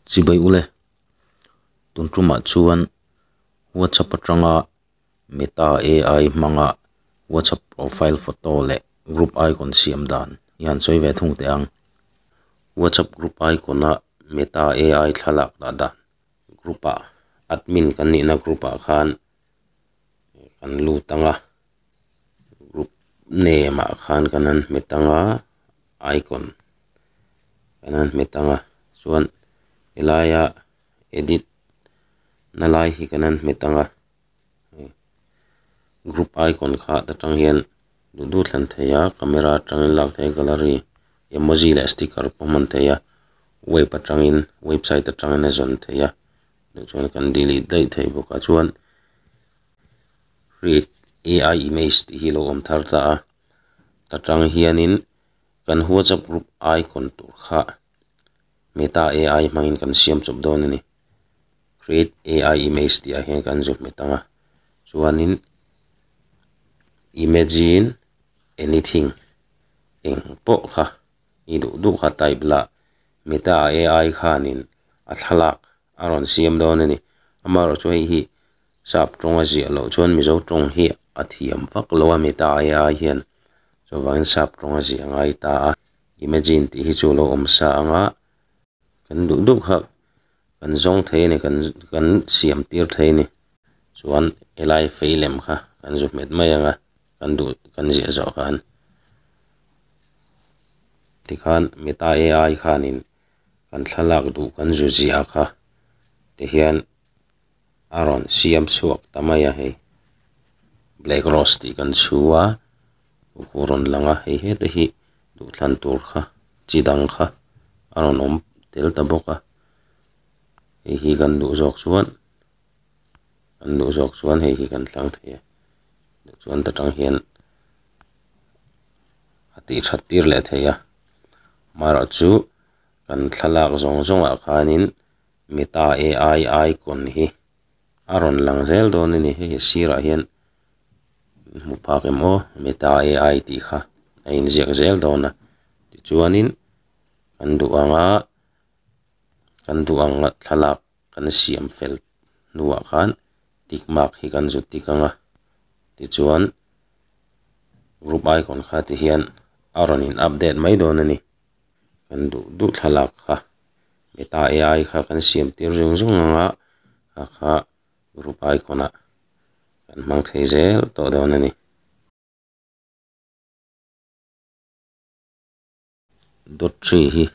Chibai u le. Tun tumah chuan WhatsApp atanga Meta AI hmanga WhatsApp profile photo leh group icon siam dan i han sawi ve thung teh ang. WhatsApp group icon-a Meta AI thlalak dah dan. Group-a admin kan nihna group-a khan kan lut ang a group name ah khan kan han hmet ang a icon kan han hmet ang a chuan helaia edit na lai hi kan han hmet ang a group icon kha ta tang hian duh duh thlen thei a camera atangin lak thei a gallery emoji leh sticker pawh hman thei a web atangin website atangin a zawn thei a. Hei chuan kan delete daih thei bawkah chuan hri ai image tih hi lo awm thar ta a ta tang hianin kan whatsapp group icon tur kha meta ai hmangin kan siam chawp dawn a ni create ai image tih ah hian kan zui hmet ang a chuanin imagine anything eng pawh kha-- Ni duh duh kha type la, Meta-a ai khanin a thlalak a rawn siam dawn a ni. Amaherawhchu hei hi sap tawnga ziah loh chuan Mizo tawng hi a thiam vak lo a, Meta-a ai hian chuvangin sap tawnga ziah a ngai ta a, Imagine tih hi chu lo awm sa ang a, kan duh duh kha kan zawng thei a ni, kan siam tir thei a ni, chuan helai feilem kha kan zu hmet mai ang a. kan duh kan ziah zawh khan tikhan meta ai khanin kan thlalak duh kan zu ziah kha te hian a rawn siam chhuak ta mai a hei black rose tih kan chhu a a rawn lang a hei hete hi duhthlan tur kha chi dang kha a rawn awm tel ta bawk a hei hi kan duh zawk chuan-- an duh zawk chuan hei hi kan tlang thei a, duh chuan ta tang hian a tih that tir leh thei a, amaherawhchu chu kan thlalak zawng zawng ah khanin mi ta e ai ai kawn hi a rawn lang zel dawn a ni, hei hi sirah hian kan hmu phak em aw mi ta e ai tih kha a in ziak zel dawn a, tichuanin kan duh anga kan duh ang thlalak-- Kan siam fel hnuah khan tick mark hi kan zut dik ang a, tichuan group icon kha te hian a rawn in update mai dawn a ni. Kan duh duh thlalak kha Meta ai kha kan siam tir ring zung ang a, kha kha group icon ah kan hmang thei zel tawh dawn a ni. dot three hi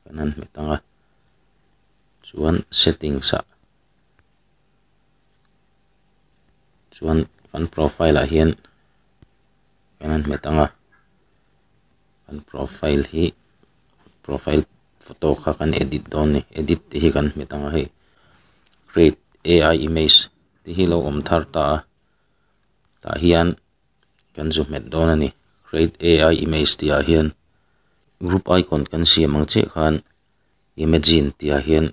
kan han hmet ang a chuan settings ah chuan kan profile ah hian kan han hmet ang a kan profile hi profile photo kha kan edit dawn a ni edit te hi kan hmet ang a hei create ai image te hi lo awm thar ta a tah hian-- kan zu hmet dawn a ni grade a i image tih ah hian group icon kan siam ang chiah khan imagine tih ah hian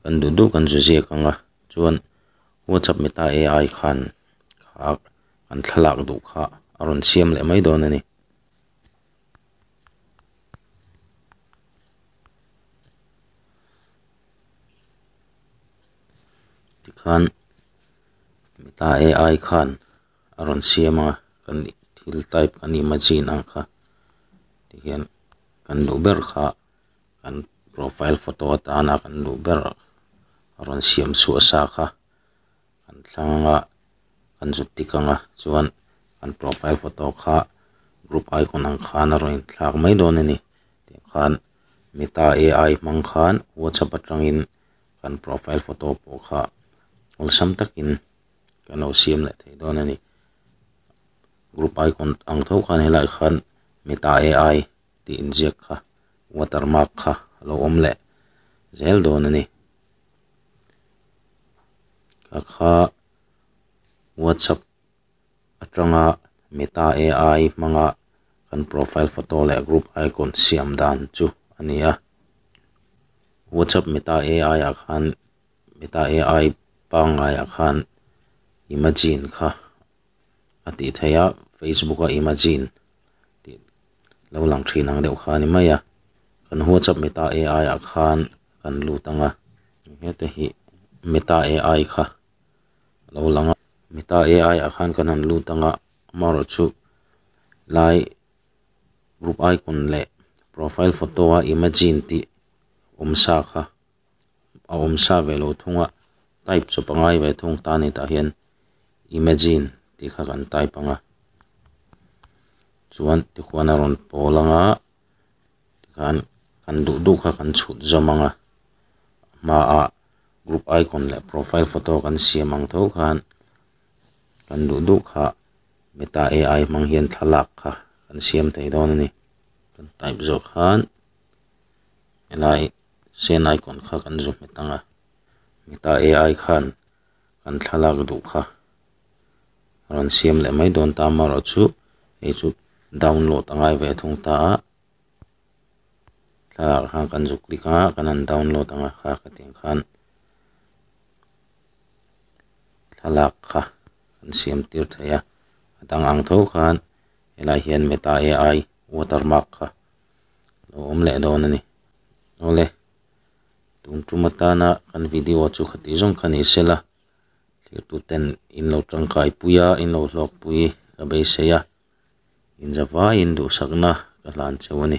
kan duh duh kan zu ziak ang a chuan whatsapp meta ai khan ah kan thlalak duh kha a rawn siam leh mai dawn a ni. a rawn siam a kan nih thil type kan nih machine ang kha ti hian kan duh ber kha kan profile photo atana kan duh ber a rawn siam suah sa kha kan thlang anga kan zut tik anga chuan kan profile photo kha group icon ang khan a rawn inthlak mai dawn a ni tih khan meta ai hmang khan whatsapp atangin kan profile photo pawh kha awlsam takin-- kan lo siam leh thei dawn a ni group icon ang theuh khan helai khan meta ai tih inziak kha water mark kha a lo awm leh zel dawn a ni a kha whatsapp atanga meta ai hmanga kan profile photo leh group icon siam dan chu a ni a whatsapp meta ai ah khan-- Meta AI pangngai ah khan imagine kha a tih theih a, Facebook a imagine tih lo lang thin ang deuh kha a ni mai a. Kan whatsapp Meta AI ah khan kan lut ang a. Hete hi Meta AI kha a lo lang a. Meta AI ah khan kan han lut ang a, amaherawh chu lai group icon leh profile photo a imagine tih awm sa kha. a awm sa ve lo thung a type chu pangai ve thung ta ni tah hian imagine tih kha kan type ang a chuan tihuan a rawn pawl ang a tikhan kan duh duh kha kan chhut zawm ang a hmaah group icon leh profile photo kan siam ang tho khan kan duh duh kha meta ai hmang hian thlalak kha kan siam thei dawn a ni kan type zawk khan helai-- sen icon kha kan zu hmet ang a heta ai khan kan thlalak duh kha a rawn siam leh mai dawn ta amarawh chu hei chu download a ngai ve thung ta a thlalak ah khan kan zu click a kan han download ang a kha ka ti ang khan thlalak kha kan siam tir theih a a dang ang tho khan helai hian meta ai watermark kha. lo awm leh dawn a ni. Awle, tun tum atana kan video chu kha tih zawng kha ni se la, thirtuten in lo tangkai pui a, in lo hlawk pui ka beisei a, inzavaiin duhsakna ka hlan cheu a ni.